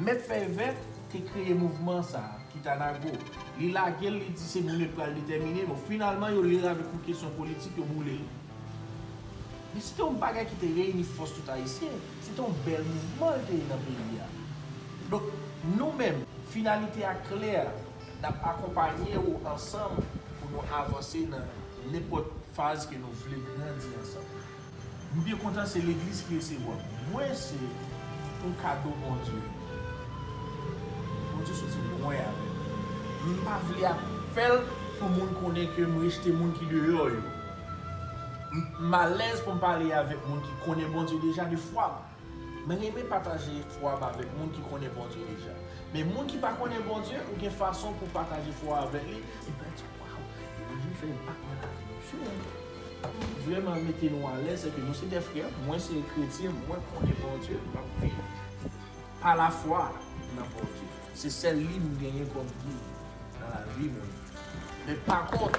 Mèt fèy vèt te kreye mouvman sa a, Kitanago. Li lage l, li di se nou-menm ki pral detèmine. Bon, finalman, yo li l avèk yon kesyon politik, yo boule l. Men se te yon bagay ki te reyini fòs tout Ayisyen. Se te yon bèl mouvman li te ye nan peyi a. Donk, nou-menm, finalite a klè, n ap akonpanye ou ansanm pou nou avanse nan nenpòt faz ke nou vle grandi ansanm. M byen kontan se legliz ki resevwam. Mwen se yon kado Bondye. Bondye soti lwen avèm. M pa vle ap fèl pou moun konnen ke m rejte moun ki deyò yo. M alèz pou m pale avèk moun ki konnen Bondye deja de fwa. Mwen renmen pataje fwa m avèk moun ki konnen Bondye deja. Men moun ki pa konnen Bondye, ou gen fason pou w pataje fwa avèk li, epi l ap di, Waw! E Bondye fè enpak nan lavi m. Sa ki vrèman mete nou alèz, se ke nou se de frè, mwen se kretyen, mwen konnen Bondye, m ap viv pa lafwa nan Bondye. Se sèl li m genyen kòm gid nan lavi mwen. Men pa kont,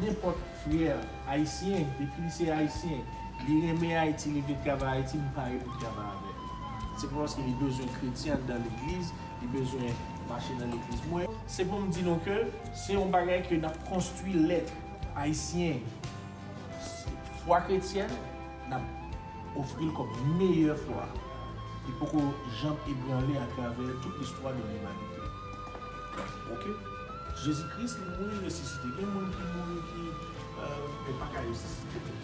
nenpòt frè ayisyen, depi li se ayisyen, li renmen Ayiti, li vle travay Ayiti, m pare pou m travay avè l. Se pa paske li bezwen kretyen anndan legliz, li bezwen mache nan legliz mwen. Se pou m di nou ke se yon bagay ke n ap konstwi lèt ayisyen, fwa kretyèn, N ap ofri l kòm meyè fwa ki poko janm ebranle atravè tout listwa de limanite. Ok. Jezi Kris li mouri resisite. Gen moun ki mouri ki yo pa ka resisite tou.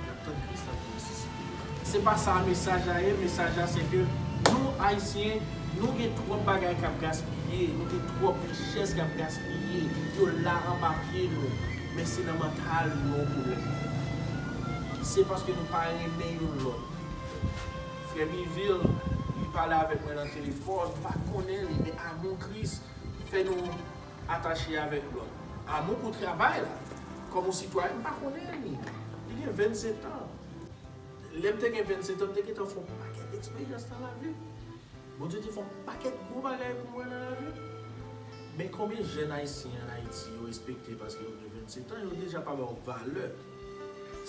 Y ap tann Kris la pou resisite yo. Se pa sa mesaj la ye, mesaj la se ke nou Ayisyen nou gen twòp bagay k ap gaspiye, nou gen twòp richès k ap gaspiye, yo la anba pye nou. Men se nan mantal nou problèm nan ye. Se paske nou pa renmen youn lòt. Frè Mivil, li pale avèk mwen nan telefòn, m pa konnen li, men amou Kris fè nou atache avèk lòt. Amou pou travay la, kòm yon sitwayen, m pa konnen li. Li gen 27 an. Lè m te gen 27 an, m te gentan fè yon pakèt eksperyans nan lavi m. Bondye te fè yon pakèt gwo bagay pou mwen nan lavi m. Men konbyen jèn ayisyen an Ayiti yo respekte paske yo gen 27 an yo deja pa ba w valè.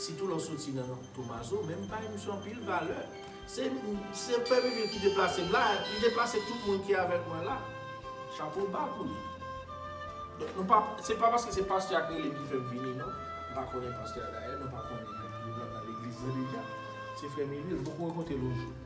Sitou lè w soti nan Tomazo men m bay misye anpil valè. Se se Premye vil ki te plase m la, li te plase tout moun ki avèk mwen la. Chapo ba pou li. Donk nou pa se pa paske se pastè a k rele m ki fè m vini non. M pa konnen pastè a dayè, nou pa konnen li pral nan legliz la deja. Se frè Mirie, m poko rankontre l yon jou.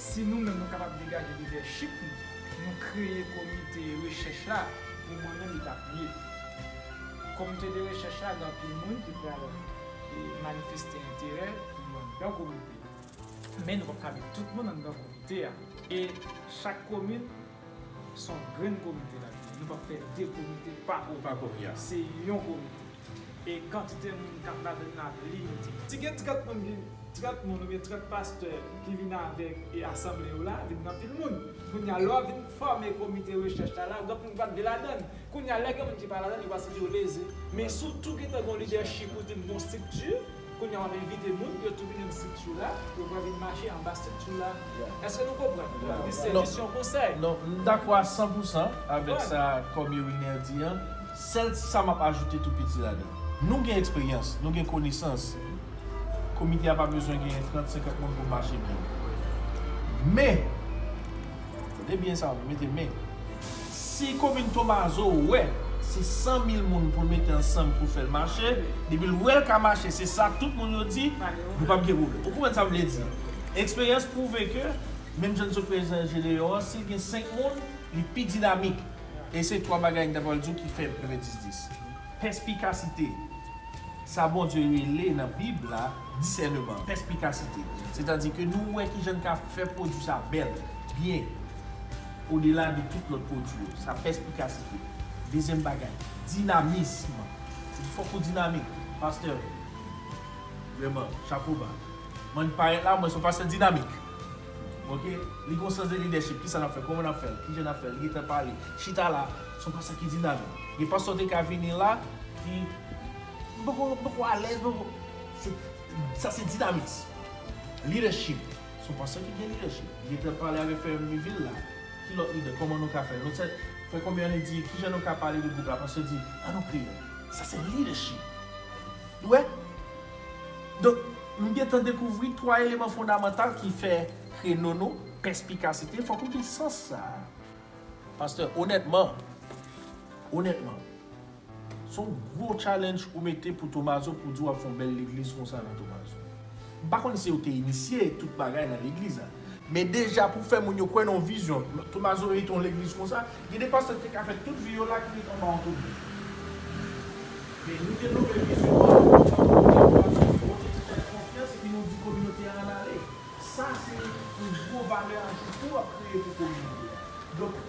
Si nou menm nou kapab degaje lidèchip nou, nou kreye komite rechèch la, pou mwen menm li t ap ye. Komite de rechèch la gen anpil moun ki pral manifeste enterè pou yo anndan komite. Men nou p ap kale tout moun anndan komite a. E chak komin Son grenn komite la genyen. Nou pap fè 2 komite pa komite. Se yon komite. E kantite moun kap ladann nan ap limite. Si gen 30 moun vin 30 moun oubyen 30 pastè ki vin avèk e asanble yo la vin gen anpil moun. Kounye a lè wap vin fòme komite rechèch la la lòt moun pap vle ladann. Kounye a lè gen moun ki pa ladann yo pral santi yo leze. Men si w tou gentan gen yon lidèchip ou di m gen yon estrikti. Kounya wap envite moun yo tou vini nan structure la, yo pral vin mache anba structure la, eske nou konprann? Yo pral gen sèvis yon konsèy. Non, m dakò a san pou san avèk sa Kòmye Wilner di an, sèl ti sa map ajoute tou piti ladan. Nou gen eksperyans, nou gen konesans, komite a pa bezwen genyen 30, 50 moun pou mache byen. Men! Kote byen sa yo pou mete men. Si komin tomazo wè se 100 mil moun poul mete ansanm poul fèl mache depil wèl ka mache se sa tout moun yo di nou pap gen pwoblèm ou konprann sam vle di eksperyans pwouve ke menm jan nou se prezidan jedeyon an sil gen 5 moun li pi dinamik e se 3 bagay mta pral diw ki fè mwen fè 10 10 pèspikasite sa Bondye rele nan bib la. disèneman, pèspikasite. Setadi ke nou wè kijan n ka fè pwodui sa bèl, byen, odela de tout lòt pwodui yo. Sa pèspikasite. Dezyèm bagay, dinamism. Epi fòk ou dinamik. Pastè, vrèman, chapo ba. M'en parèt la, mwen se yon pastè dinamik. Ok? Li gen yon sans de lidèchip. Kisa n'ap fè? Kòman n'ap fè l? Kijan n'ap fè l? Li gentan pale. Chita la. Se yon pastè ki dinamik. Gen pastè ou te ka vini la, ki. M poko m poko alèz m poko se sa se dinamiks leadership son pastè ki gen leadership li te pral pale avèk frè Mivil la ki lòt lidè kòman nou ka fè nou se frè kòbi an li di kijan nou ka pale de gwoup la pastè di an nou kreye l sa se leadership nou wè donk m gentan dekouvri 3 eleman fondamantal ki fè kreno nou pèspikasite fòk ou gen sans sa a pastè onètman onètman. Son gwo challenge ou mete pou Tomazo pou di wap fon bèl legliz konsa nan Tomazo. M pa konn si yo te inisye tout bagay nan legliz la. Men deja pou fè moun yo kwè nan vizyon Tomazo mete yon legliz konsa, gen de pastè ki te ka fè tout vi yo la ki ret anba yon tounèl. Men nou te love vizyon an, nou te fè kominote an konfyans epi nou di kominote an al ale. Sa se yon gwo valè ajoute w ap kreye pou kominote a. Donk,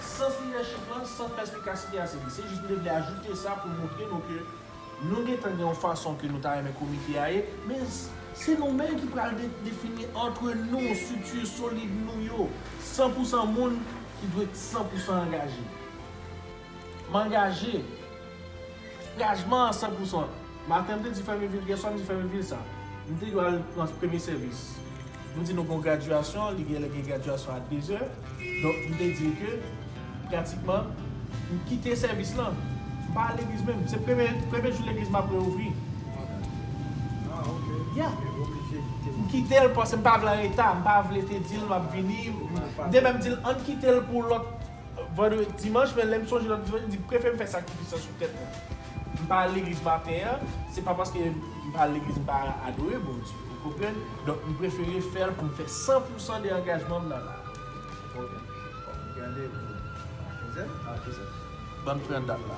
sans lidèchip lan, sans pèspikasite a se li. Se jis m te vle ajoute sa pou montre nou ke nou gen tan gen yon fason ke nou ta renmen komite a ye, men se nou menm ki pral defini antre nou, strikti solid nou yo, san pou san moun ki dwe san pou san angaje. M angaje. Angajman an san pousan. Maten m te di Fèmi Vil, gen swa m di Fèmi Vil sa. M te dwe al pran premye sèvis. Nou di nou gon gradyasyon, li gen lè gen gradyasyon a dezè. Donk m te di l ke pratikman m kite sèvis lan. M pa al legliz menm. Se premye premye jou legliz m ap reouvri. Ah ok. Ya. M te oblije kite. M kite l paske m pa vle anreta. M pa vle te di l m ap vini. M te menm di l ann kite l pou lòt. Vandredi, dimanch men lèm sonje lòt dimanch mdi prefem fè sakrifis lan sou tèt mwen. Mpa al legliz maten an, se pa paske mpa al legliz mpa adore Bondye, ou konprann? Donk mprefere fèl poum fè 100 pousan de angajmanm nan la. Ok, fòk mgade pou Akizè? Akizè. Banm pran dat la.